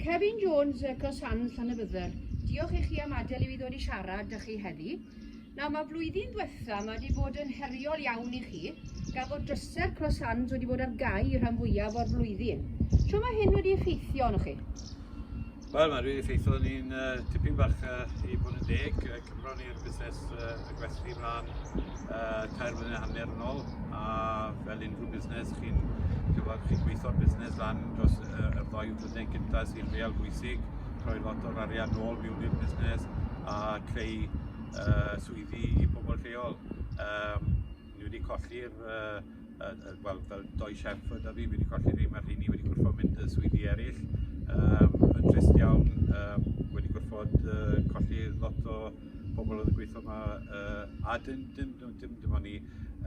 Kevin Jones, Cross Hands, Llanybydder. Diolch i chi am adael i fi ddod i siarad â chi heddi. Nawr mae flwyddyn diwetha mae wedi bod yn heriol iawn i chi, gan fod drysau'r Cross Hands wedi bod ar gau rhan fwyaf o'r flwyddyn. Sio mae hyn wedi effeithio arnoch chi? Wel, mae wedi effeithio ni'n uh, tipyn bach uh, i bod yn deg, Ro'n i'r busnes uh, y gwesty mlaen uh, tair flynedd hanner yn ôl a fel unrhyw busnes chi'n cyfod chi'n gweithio'r busnes lan dros uh, y ddoi flynedd gyntaf sy'n real bwysig rhoi lot o'r arian nôl mewn i'r busnes a creu uh, swyddi i bobl lleol. Um, ni wedi colli'r uh, Yy yy wel fel dou chef oedd 'da fi, fi wedi colli rheiny, mae'r rheiny wedi gorfod mynd i swyddi eraill. Yym yn trist iawn, yym wedi gorfod yy colli lot o pobl oedd yn gweithio yma yy a dim dim dim dim dim ond ni,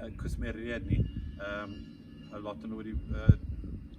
yy cwsmeriaid ni. Yym a lot o nhw wedi yy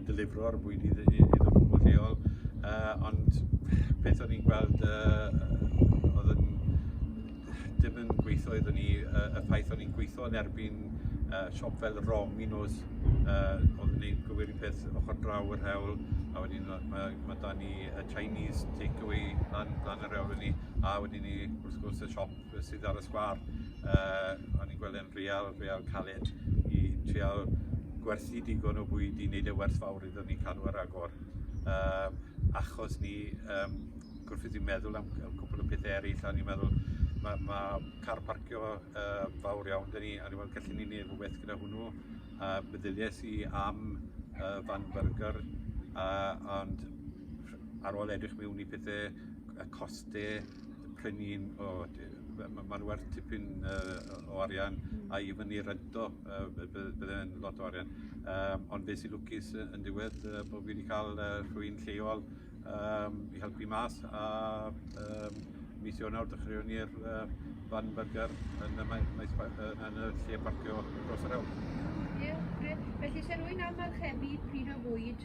delifro'r bwyd i iddyn nhw yn lleol, uh, ond beth o'n i'n gweld uh, oedd yn dim yn gweithio iddyn ni, uh, y ffaith o'n i'n gweithio yn erbyn uh, siop fel Rom i nos, uh, oedd yn gwneud gywir i peth ochr draw yr hewl, a wedyn mae, mae da ni y Chinese takeaway lan, lan yr hewl ni, a wedyn ni wrth gwrs y siop sydd ar y sgwâr. Uh, o'n i'n gweld yn real, real caled i trial gwerthu digon o bwyd i wneud e werth fawr iddyn ni cadw ar agor. Uh, achos ni, um, gwrthyd i'n meddwl am cwpl o pethau eraill, a ni'n meddwl mae ma car parcio uh, fawr iawn dyn ni, a ni'n meddwl gallen ni wneud rhywbeth gyda hwnnw. A uh, meddyliais i am uh, fan burger, uh, ond ar ôl edrych mewn i pethau, y costau, Pry ni'n, o, mae'n werth tipyn uh, o arian a i fyny rento, uh, byddai'n lot o arian. Um, ond fe sy'n lwcus yn diwedd uh, bod fi wedi cael uh, rhywun lleol um, i helpu mas a um, mis Ionawr dechreuwn ni'r uh, fan burger yn y, maes, yn y lle parcio dros yr awr. Ie, yeah, Felly, se rwy'n amarchebu pryd o fwyd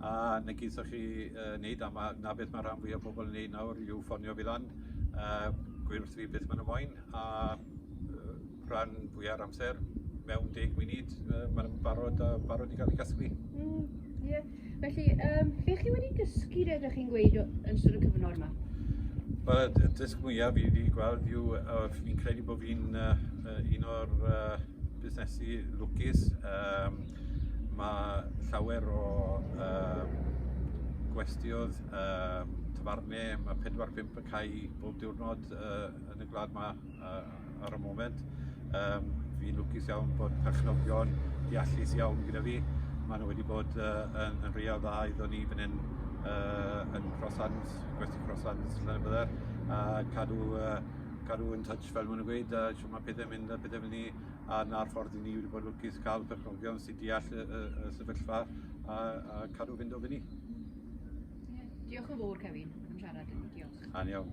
a na geithoch chi uh, wneud, a ma, na beth mae rhan fwy o pobl yn wneud nawr yw ffonio fi lan, uh, gweud wrth fi beth maen nhw moyn, a uh, rhan fwy ar amser, mewn deg munud, uh, maen nhw'n barod, uh, barod i gael ei gasglu. Mm, yeah. Felly, um, beth chi wedi dysgu rydych chi'n gweud yn sôn y cyfnod yma? Wel, y dysg mwyaf fi wedi gweld yw, uh, fi'n credu bod fi'n uh, un o'r uh, busnesu lwcus um, Mae llawer o um, gwestiodd, um, tafarne, mae 4-5 y cae bob diwrnod uh, yn y gwlad yma uh, ar y moment. Um, fi'n lwcus iawn bod perchnogion deallus iawn gyda fi. Mae nhw wedi bod uh, yn, yn real dda iddo ni fan hyn uh, yn Crosslands, gwesti Crosslands, lle bydde, a cadw, uh, cadw yn touch fel maen nhw'n gweud, a siw mae pethau'n mynd a pethau fel ni. a na'r ffordd i ni wedi bod yn lwcus cael perchnogion sy'n deall y, y, y sefyllfa a, a cadw fynd o fyny. Diolch yn fawr, Kevin, am siarad yn ni. Diolch. Aniawn.